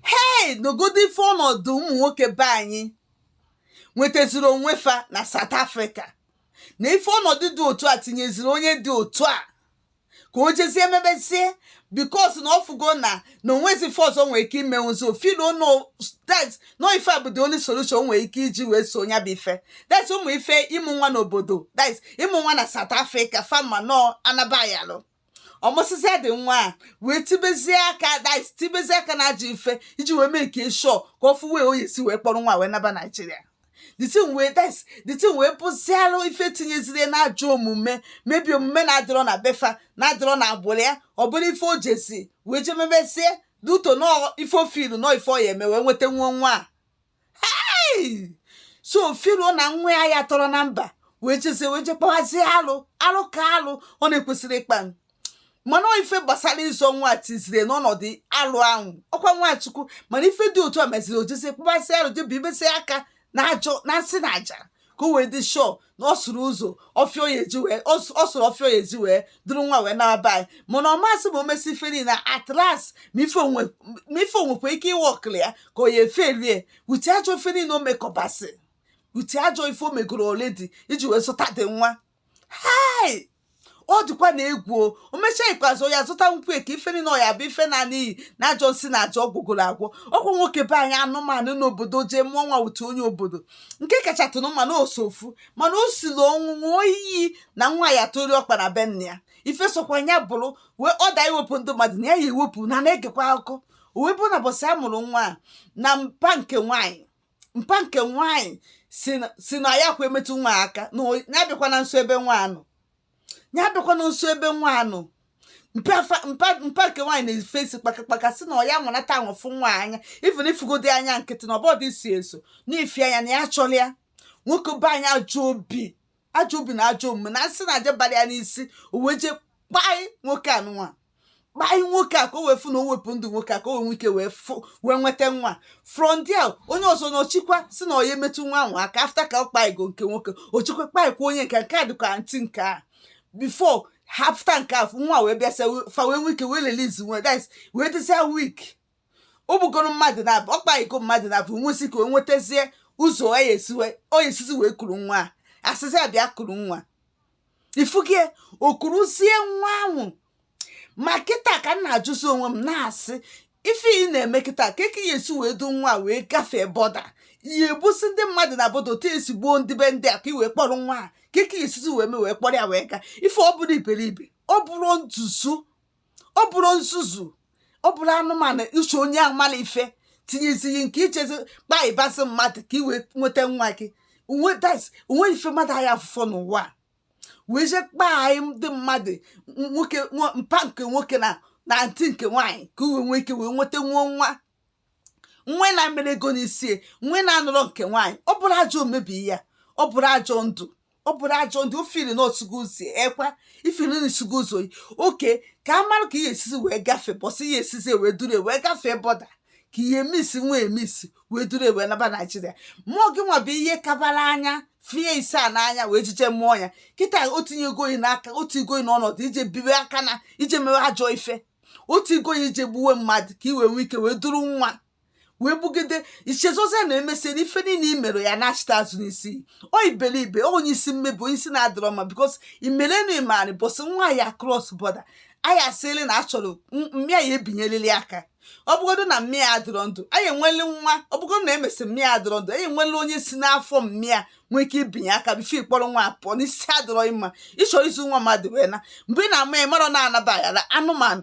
hei nụgodi ife ọnọdụ ụmụ nwoke be anyị nwetaziri onwe fa na South Africa na ife ọnọdụ dị otu a tinyeziri onye dị otu a ka o jezie emebezie because na ọ fụgo na na o nwezi ife ọzọ o nwere ike ime so feel na that na ife a bụ the only solution o nwere ike iji wee solve ya bụ ife that's ụmụ ife ịmụ nwa n'obodo that's ịmụ nwa na South Africa fama nọ anabayalụ ọ mụsịzịa the nwa a wee tibezie aka that's tibezie aka na ajọ ife iji wee make sure ka ọ fụ way ọ ya esi wee kpọrọ nwa wee naba Nigeria the thing wee that's the thing wee bụzialụ ife tinyeziri ya na ajọ omume mebe omume na-adịrọ na be fa na-adịrọ na agbụrụ ya ọ bụrụ ife o jizi wee je mebezie due to na ọ ife o feelụ na ọ ife ọ ya eme wee nweta nwa nwa a so feelụ na nwa ya ya tọrọ na mba wee jezie wee je kpawazie alụ alụ ka alụ ọ na-ekwesịrị ịkpa mana ife gbasara ịzọ nwa tiziri ya n'ọnọdụ alụ ahụ ọ kwa nwa Chukwu mana ife dị otu a meziri o jezie kpawazie alụ je bibezie aka na ajọ na nsị na aja ka o wee dị sure na ọ sụrụ ụzọ ọfịa ọ ya eji wee ọ sụ- ọ sụrụ ọfịa ọ ya eji wee duru nwa wee naba anyị mana ọ mazị ma o mesịa ife niile at last ma ife o nwe ma ife o nwekwa ike ịworkụlụ ya ka ọ ya efailị ya with ajọ ife niile o mekọbasị with ajọ ife o megoro already iji wee zọta the nwa hei ọ dịkwa na egwu o mechaa ikpeazụ ya zụta nkwụ eke ife niile ọ ya bụ ife naa n'iyi na ajọ nsị na ajọ ọgwụ gwọrọ agwọ ọ kwa nwoke be anyị anụnwa nọ n'obodo jee mụọ nwa with onye obodo nke kachatụrụ mma na osofu mana o siri ọnwụ ṅụọ iyi na nwa ya tọrị ọkpa na be nna ya ife sọkwa ya bụrụ whether iwepụ ndụ mmadụ na ya ya ewepụ nna na-egekwa akụkọ o wee bụrụ na mbọsị a mụrụ nwa a na mpa nke nwaanyị mpa nke nwaanyị sị na- sị na ya kwa emetụ nwa aka na o- ya abịakwana nso ebe nwa a nọ ya abịakwana nso ebe nwa a nọ mpa fa- mpa mpa nke nwaanyị na-efe isi kpakakpaka sị na ọ ya nwanata ahụ fụ nwa anya even ịfụgodi anya nkịtị na ọbọdụ isi eso na ịfụ ya anya na ya achọrọ ya nwoke be anyị ajọ obi ajọ obi na ajọ omume na nsị na aja bara ya n'isi o wee jee kpaị nwoke a nwa kpaị nwoke a ka o wee fụ na o wepụ ndụ nwoke a ka o wee nwee ike wee fụ wee nweta nwa from there onye ọzọ anọchikwa sị na ọ ya emetụ nwa ahụ aka after ka ọ kpaịgo nke nwoke o chikwa kpaịkwa onye nke nke a dịka aunty nke a before after nke a nwa wee bịa sị fa wee nwee ike wee release nwa that's wee dịzia weak o gbugoro mmadụ naabọ ọ kpaịgo mmadụ naabọ o wee sị ka o nwetazie ụzọ ọ ya esi wee- ọ ya esizi wee kuru nwa a a sịzi ya bịa kuru nwa ifugie o kuruzie nwa ahụ ma kịta ka m na-ajụzi onwe m na-asị ife ị na-eme kịta kee ka ị ya esi wee du nwa a wee gafee border ị ya egbusi ndị mmadụ na border otu i si gbuo ndị be ndị a ka i wee kpọrọ nwa a kee ka ị ya esizi wee mee wee kpọrọ ya wee gaa if ọ bụrọ iberibe ọ bụrụ ntuzu ọ bụrụ nzuzu ọ bụrụ anụmanụ iche onye amala ife tinyezighị nke ichezi kpa ịbasị mmadụ ka ị wee nweta nwa gị onwe das o nwe ife mmadụ anyị afụfọ n'ụwa a wee je kpaa anyị ndị mmadụ nwoke nwa- mpa nke nwoke na antị nke nwaanyị ka i wee nwee ike wee nweta nwa nwa nwa ị na-emerọ ego n'isi nwa ị na-anụrọ nke nwaanyị ọ bụrụ ajọ omebi ya ọ bụrụ ajọ ndụ ọ bụrụ ajọ ndụ ofili na osugo ụzọ ekwa i fili na i sugo ụzọ oke ka a mara ka i ya-esizi wee gafee bọsị i ya-esizi wee duru e wee gafee bọda ka i ya-emisi nwa emisi wee duru e wee naba naijiria mmụọ gị nwa bụ ihe kabara anya fie ise a n'anya wee jije mmụọ ya kịta o tinyego gị n'aka o tinyego gị n'ọnọdụ i je biwe aka na i je mewe ajọ ife o tiigo gị i je gbuwe mmadụ ka i wee nwee ike wee duru nwa wee bugide i chezọzie na emesie na ife niile i mere ya-anachita azụ n'isi gị onye iberibe onye isi mmebi onye isi na-adịrọ mma bikọs imerenu imani bụsị nwa ya kros bọda a ya-asịrị na a chọrọ mma ya ebinyelili aka ọ bụgodo na mma ya adịrọ ndụ a ya-enweli nwa ọ bụgodo na emesị mma ya adịrọ ndụ a ya-enweli onye si n'afọ mma ya nwee ike ibinye aka bifo ị kpọrọ nwa pụọ na isi adịrọ mma ị chọrọ izu nwa mmadụ wee na mgbe ị na-eme ya marọ na-anaba aghara anụmanụ